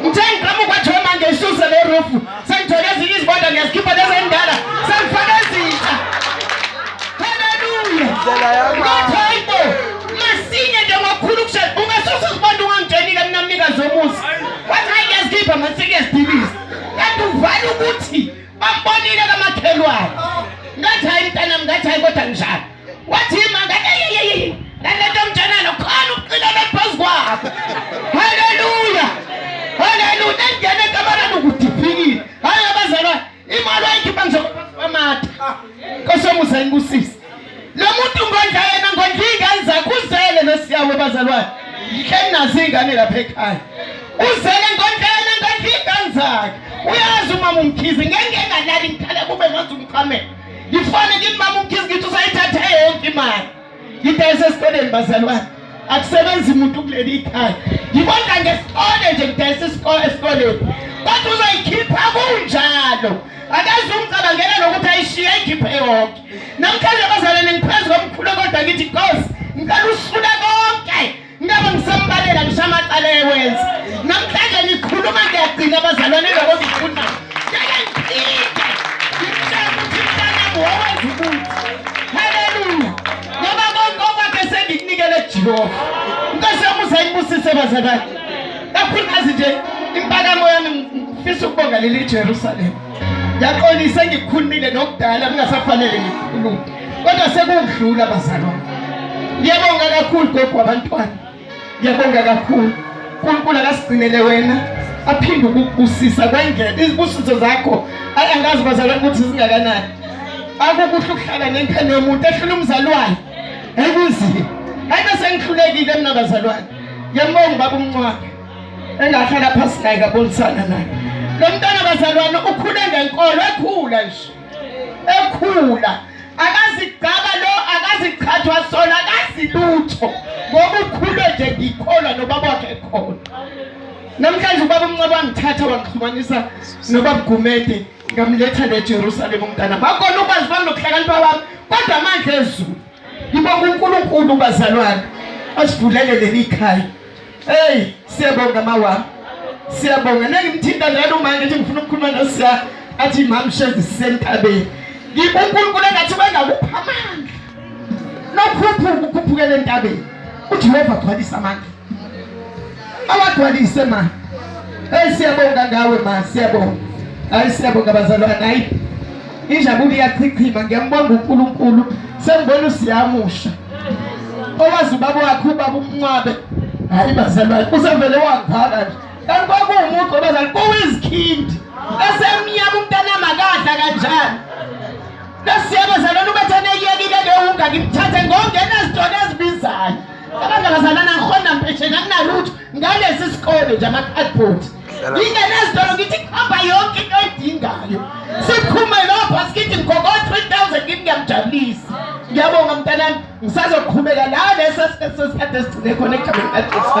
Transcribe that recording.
Ngithe ngiqhamuka nje manje isuse le roof. Sengithole ezinye izibonda ngiyazikhipha lezi endala. Sengifaka ezintsha. Haleluya. Indlela yakho. Hayibo. Masinye nje ngokukhulu kushela. Ungasusa uzibonda ungangitshelile mina mnikazi womuzi. Wathi hayi ngiyazikhipha ngathi ngiyazidibisa. Kanti uvala ukuthi bambonile kamakhelwane. Ngathi hayi mntanami ngathi hayi kodwa njalo. wathima ngaleyeyeyi nalento mntanana khona ukuqinana phezu kwakho haleluya haleluya nangena ekamareni ukudiphikile hhayi abazalwane imali wayikhipha ngizokwamata kosomusa inibusise lo muntu ngondla yena ngondla iy'ngane zakhe uzele nosiyawo bazalwane ngihleli nazo iy'ngane lapha ekhaya uzele ngondla yena ngondla iy'ngane zakhe uyazi umama umkhize ngeke ngalali ngikhala kube manje umqhamela ngifane kimi mama ugizi ngithi usayithathe yonke imali ngidayise esikoleni bazalwane akusebenzi muntu kuleli ikhaya ngibonga ngesikole nje ngidayise isikole esikoleni kodwa uzoyikhipha kunjalo akaze umcabangela nokuthi ayishiye ikhiphe yonke namhlanje abazalwane ngiphezu komkhulu kodwa ngithi nkosi ngicela usifuna konke Ngabe ngisambalela ngisho amacala ewenza. Namhlanje ngikhuluma ngiyagcina abazalwane labo ngifuna. Ngeke ngiphinde. Ngicela ukuthi mntana wowenza ukuthi. Haleluya. Ngoba konke okwakhe sengikunikele Jehova. Inkosi yami usayibusise bazalwane. Kakhulukazi nje impakamo yami ngifisa ukubonga leli Jerusalem. Ngiyaxolisa engikukhulumile nokudala kungasafanele ngikhulume. Kodwa sekudlula bazalwane. Ngiyabonga kakhulu gogo abantwana. Ngiyabonga kakhulu. uNkulunkulu akasigcinele wena aphinde ukukubusisa kwengele izibusiso zakho angazi bazalwane ukuthi zingakanani akukuhle ukuhlala nengane yomuntu ehlula umzali wayo ekunzima ayike sengihlulekile mina bazalwane ngiyambonga ubaba umncwane engahlala phasi naye kabonisana naye lo mntana bazalwane ukhule ngenkolo ekhula nje ekhula akazigcaba lo akazichathwa sona akazilutho ngoba ukhule nje ngikholwa nobaba wakhe ekhona namhlanje ubaba umncaba wangithatha wangixhumanisa nobaba Gumede ngamletha neJerusalem umntana bakona ukwazi bami nokuhlakanipha kwami kodwa amandla ezulu ngibonga uNkulunkulu bazalwane asivulele leli khaya Hey, siyabonga mawa. Siyabonga. Nengimthinta njalo uma ngithi ngifuna ukukhuluma noSiya athi mamshezi sentabeni. Ngikunkulunkulu engathi bengakupha amandla. Nokhuphuka ukhuphukela entabeni. UJehova gcwalisa amandla. Awagcwalise ma. Hey siyabonga ngawe ma, siyabonga. Hayi siyabonga bazalwane. Hayi Injabulo iyachichima ngiyambonga uNkulunkulu sengibona usiyamusha owazi ubaba wakhe ubaba umncwabe hayi bazalwane usevele wangaka nje kanti kwakuwumuntu obazali kuwizikhindi esemnyama umntanami akadla kanjani lesiyabo zalona ubethane iyekile lewunga ngimthathe ngongenazitona ezibizayo abangabazalana ngikhona mpesheni anginalutho ngalesi sikole nje ama-cardboard ingenezitolo ngithi kuhamba yonke into edingayo siphume lapha sikithi ngikoko 3000 kimi ngiyamjabulisa ngiyabonga mntanami ngisazoqhubeka la lesi sikhathi esigcine khona ekugabeni kajesu